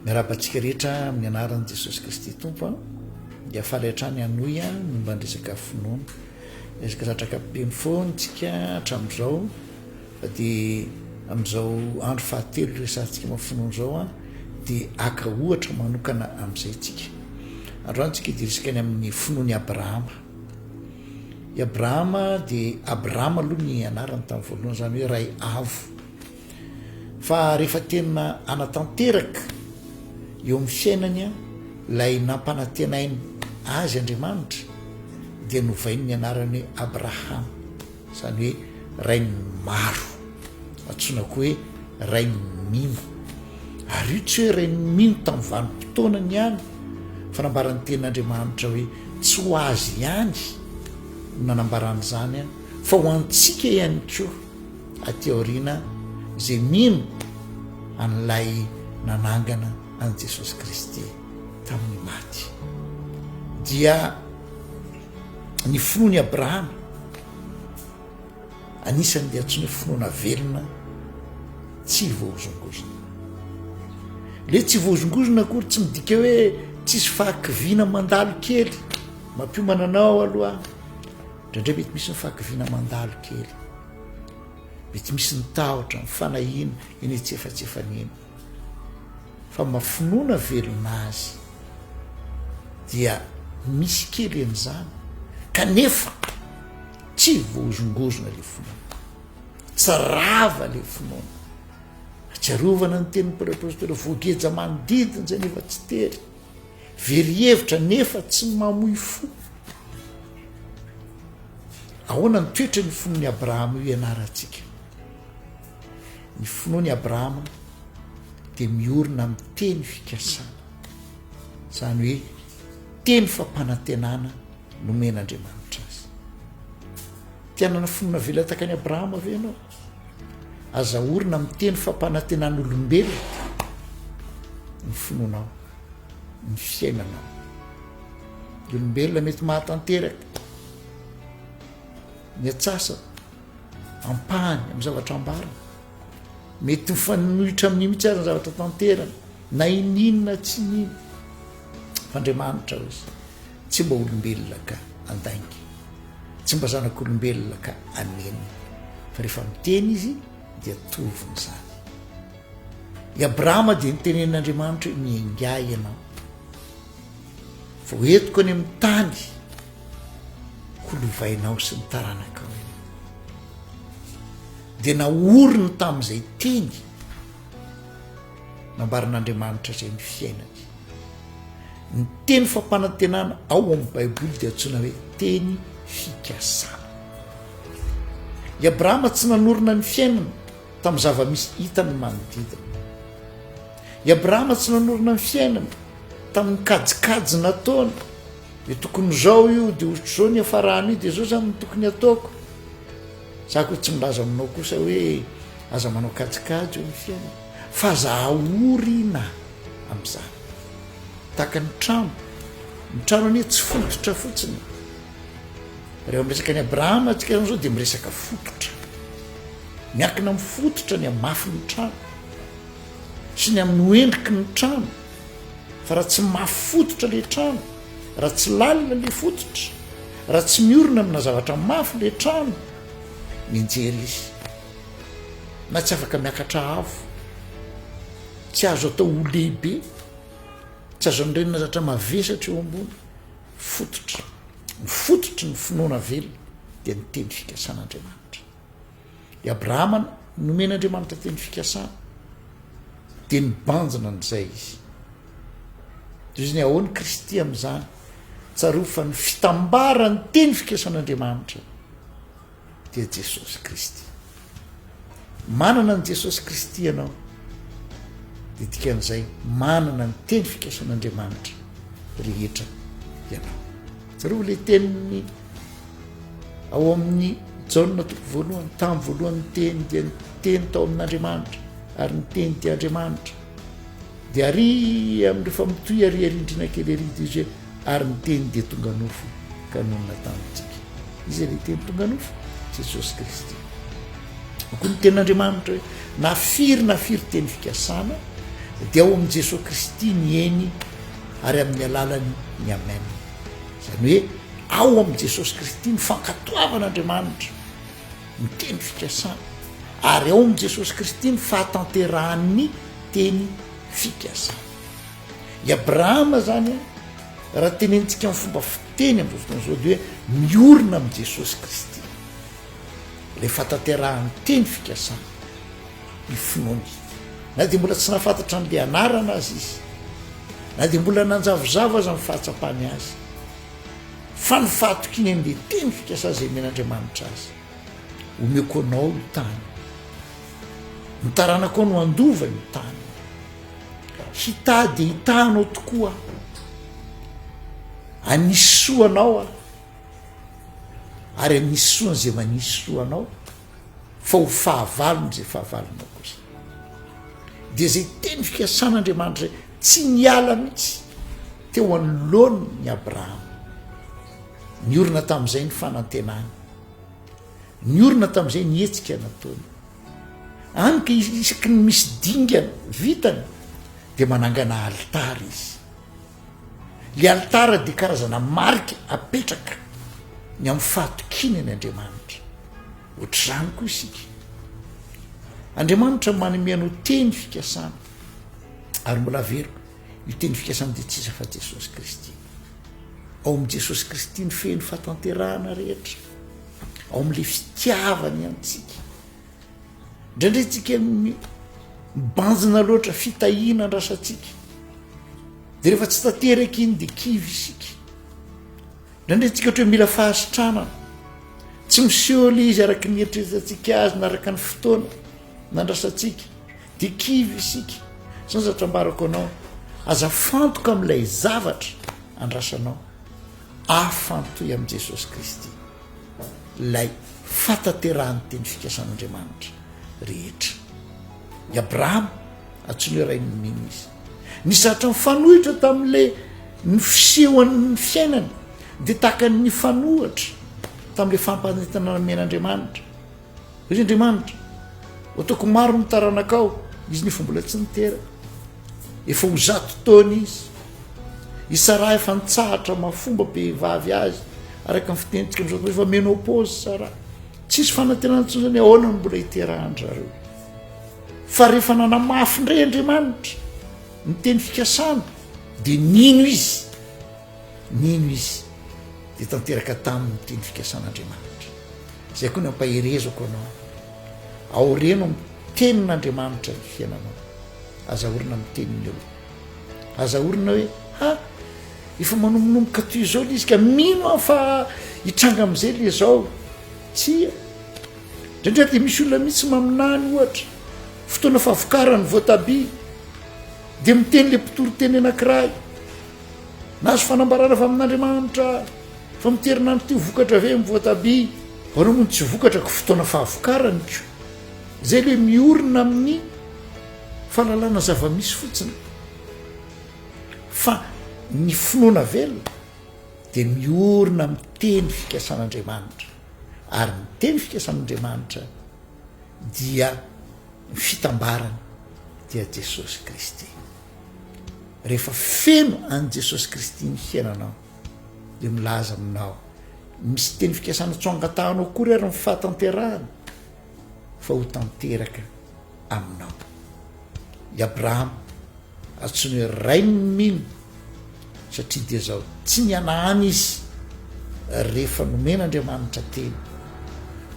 Miarahaba antsika rehetra amin'ny anaran'i Jesosy Kristy Tompo a. Dia faly hatrany hanohy a ny momba ny resaka finoana. Resaka zatraka be mifoana antsika hatramin'izao fa dia amin'izao andro fahatelo resantsika momba finoana izao a dia aka ohatra manokana amin'izay tsika. Androany tsika dia resaka ny amin'ny finoan'i Abrahama. I Abrahama dia Abrahama aloha ny anarany tamin'ny voalohany izany hoe ray avo. Fa rehefa tena hanatanteraka eo amin'ny fiainany ilay nampanantenainy azy Andriamanitra, dia novainy ny anarany hoe Abrahama, izany hoe rain'ny maro. Antsoina koa hoe rain'ny mino. Ary io tsy hoe rain'ny mino tamin'ny vanim-potoanany ihany, fa nambaran'ny tenin'Andriamanitra hoe tsy ho azy ihany no nanambarany izany, fa ho antsika ihany koa. Aty aoriana izay mino an'ilay nanangana an'i Jesosy Kristy tamin'ny maty dia ny finoan'i Abrahama anisan'ny dia tsy ny finoana velona tsy voahozongozona le tsy voahozongozona akory tsy midika hoe tsisy fahakiviana mandalo kely mampiomana anao aloha ndraindray mety misy ny fahakiviana mandalo kely Mety misy ny tahotra, ny fanahiana, eny an-tsefatsefany eny. Fa mba finoana velona azy dia misy kely an'izany kanefa tsy voahozongozona ilay finoana. Tsy rava ilay finoana. Atsiarovana ny tenin'ny Paoly apostoly, voageja manodidina izay nefa tsy tery. Very hevitra nefa tsy mamoy fo. Ahoana ny toetry ny finoan'i Abrahama io ianarantsika? Ny finoan'i Abrahama dia miorina amin'ny teny fikasana, izany hoe teny fampanantenana nomen'Andriamanitra azy. Te hanana finoana velatakany Abrahama ve ianao? Aza orina miteny fampanantenan'olombelona ny finoanao, ny fiainanao. Ny olombelona mety mahatanteraka ny atsasany, ampahany amin'ny zavatra ambarany. Mety mifanohitra amin'ny mihitsy aza ny zavatra tanterany, na ininona tsy ininona. F'Andriamanitra hoy izy. Tsy mba olombelona ka andainga, tsy mba zanak'olombelona ka anenina, fa rehefa miteny izy dia tovin'izany. I Abrahama dia nitenenin'Andriamanitra hoe miaingà ianao, fa ho entiko any amin'ny tany holovainao sy ny taranakao ianao. Dia naoriny tamin'izay teny Nambaran'Andriamanitra izay ny fiainany. Ny teny fampanantenana ao amin'ny Baiboly dia antsoina hoe teny fikasana. I Abrahama tsy nanorina ny fiainany tamin'ny zava-misy hitany manodidina. I Abrahama tsy nanorina ny fiainany tamin'ny kajikajy nataony dia tokony izao io dia ohatr'izao ny afarany io dia izao zany tokony ataoko za ko tsy milaza aminao kosa hoe aza manao kajikajy eo ny fiainana Fa za ory na amin'izany. Tahaka ny trano, ny trano anie tsy fototra fotsiny e. Rehefa miresaka an'i Abrahama antsika izany izao dia miresaka fototra. Miankina amin'ny fototra ny hamafy ny trano sy ny amin'ny ho endriky ny trano fa raha tsy mafy fototra le trano raha tsy lalina le fototra raha tsy miorina amina zavatra mafy le trano mianjera izy na tsy afaka miakatra avo, tsy azo atao ho lehibe, tsy azo andrenina zatra mavesatra eo ambony fototra, ny fototry ny finoana velona dia ny teny fikasan'Andriamanitra. I Abrahama nomen'Andriamanitra teny fikasana dia nibanjina an'izay izy. Toy izany ahoany Kristy amin'izany, tsarovy fa ny fitambaran'ny teny fikasan'Andriamanitra dia Jesosy Kristy. Manana an'i Jesosy Kristy ianao dia dikan'izay manana ny teny fikasan'Andriamanitra rehetra ianao. Jereo ilay teniny ao amin'ny Jaona toko voalohany, tamin'ny voalohany ny teny dia ny teny tao amin'Andriamanitra ary ny teny dia Andriamanitra. Dia ary amin'ireo famotoy ary arindrina kely ary dia izay Ary ny Teny dia tonga nofo ka nonina tamintsika. Iza ilay Teny tonga nofo? Jesosy Kristy. Koa ny Tenin'Andriamanitra hoe na firy na firy teny fikasana dia ao amin'i Jesosy Kristy ny Eny ary amin'ny alalany ny Amen. Izany hoe ao amin'i Jesosy Kristy ny fankatoavan'Andriamanitra ny teny fikasana ary ao amin'i Jesosy Kristy ny fahatanterahan'ny teny fikasana. I Abrahama zany raha tenenintsika amin'ny fomba fiteny amin'izao fotoana izao dia hoe miorina amin'i Jesosy Kristy le fataterahan'ny teny fikasana ny finoany na dia mbola tsy nafantatra an'le anarana azy izy na dia mbola nanjavozavo aza ny fahatsapany azy fa ny fahatokiany an'le teny fikasana izay men'Andriamanitra azy omeoko anao io tany ny taranako ao no andovany io tany Hitady hitaha anao tokoa aho. Hanisy soa anao aho, ary hanisy soa an'izay manisy soa anao, fa ho fahavalon'izay fahavalonao kosa. Dia izay teny fikasan'Andriamanitra izay tsy niala mihitsy teo anoloany ny Abrahama. Niorina tamin'izay ny fanantenany. Niorina tamin'izay ny hetsika nataony. Any ka isaky ny misy dingana vitany dia manangana alitara izy. Ilay alitara dia karazana marika apetraka ny amin'ny fahatokiana ny Andriamanitra. Ohatr'izany koa isika. Andriamanitra manome anao teny fikasana ary mbola averiko. Io teny fikasana dia tsy iza fa Jesosy Kristy. Ao amin'i Jesosy Kristy no feno fatanterahana rehetra. Ao amin'ilay fitiavany antsika. Indraindray tsika mibanjina loatra fitahiana andrasantsika. Dia rehefa tsy tanteraka iny dia kivy isika. Indraindray tsika ohatra hoe mila fahasitranana. Tsy miseho ilay izy araka ny eritreretantsika azy na araka ny fotoana nandrasantsika. Dia kivy isika. Izao zavatra ambarako anao, aza fantoka amin'ilay zavatra andrasanao. Afantoy amin'i Jesosy Kristy ilay fahatanterahan'ny teny fikasan'Andriamanitra rehetra. I Abrahama, antsoiny hoe rain'ny mino izy. Ny zatra mifanohitra tamin'ilay ny fisehoan'ny fiainany dia tahaka ny fanohatra tamin'ilay fampanentanana men'Andriamanitra. Ry Andriamanitra, ataoko maro ny taranakao, izy nefa mbola tsy niteraka. Efa ho zato taona izy. I Sarah efa nitsahatra mafomba behivavy azy, araka ny fitenitsika amin'izao tontolo, efa menopause Sarah. Tsisy fanantenana intsony zany ahoana no mbola hiterahan-dry zareo. Fa rehefa nanamafy indray Andriamanitra ny teny fikasana dia nino izy. Nino izy dia tanteraka taminy ny teny fikasan'Andriamanitra. Izay koa ny ampaherezako anao. Aoreno amin'ny tenin'Andriamanitra ny fiainanao. Aza orina amin'ny tenin'ny olona. Aza orina hoe ha efa manombonomboka toy izao le izy ka mino aho fa hitranga amin'izay le izao. Tsia. Indraindray dia misy olona mihitsy maminany ohatra fotoana favokaran'ny voatabia dia miteny le mpitory teny anankiray Nahazo fanambarana avy amin'Andriamanitra fa amin'ity herinandro ity ho vokatra ve ny voatabia? Ho anao moa ny tsy vokatra ko fotoana fahavokarany ko. Izay ilay miorina amin'ny fahalalana zava-misy fotsiny. Fa ny finoana velona dia miorina amin'ny teny fikasan'Andriamanitra. Ary ny teny fikasan'Andriamanitra dia ny fitambarany dia Jesosy Kristy. rehefa feno an'i Jesosy Kristy ny fiainanao dia milaza aminao misy teny fikasana tsy ho angatahanao akory ary ny fahatanterahana fa ho tanteraka aminao i Abrahama antsoiny hoe rain'ny mino satria dia zao tsy nianahany izy rehefa nomen'Andriamanitra teny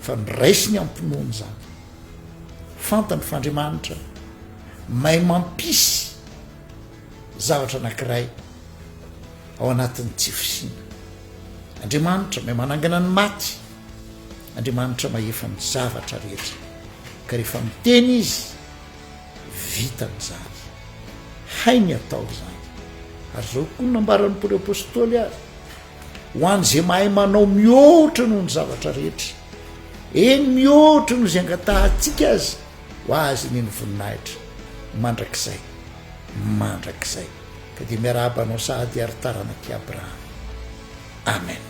fa noraisiny ampinoany izany Fantany fa Andriamanitra mahay mampisy zavatra anankiray ao anatin'ny tsy fisiana. Andriamanitra mahay manangana ny maty. Andriamanitra mahefa ny zavatra rehetra. Ka rehefa miteny izy, vitany izany. Hainy atao izany. Ary izao koa nambaran'ny Paoly Apôstôly ary, ho an'izay mahay manao mihoatra noho ny zavatra rehetra, eny mihoatra noho izay angatahantsika aza ho azy anie ny voninahitra mandrakizay mandrakizay. Ka dia miarahaba anao sahady ary taranak'i Abrahama. Amen.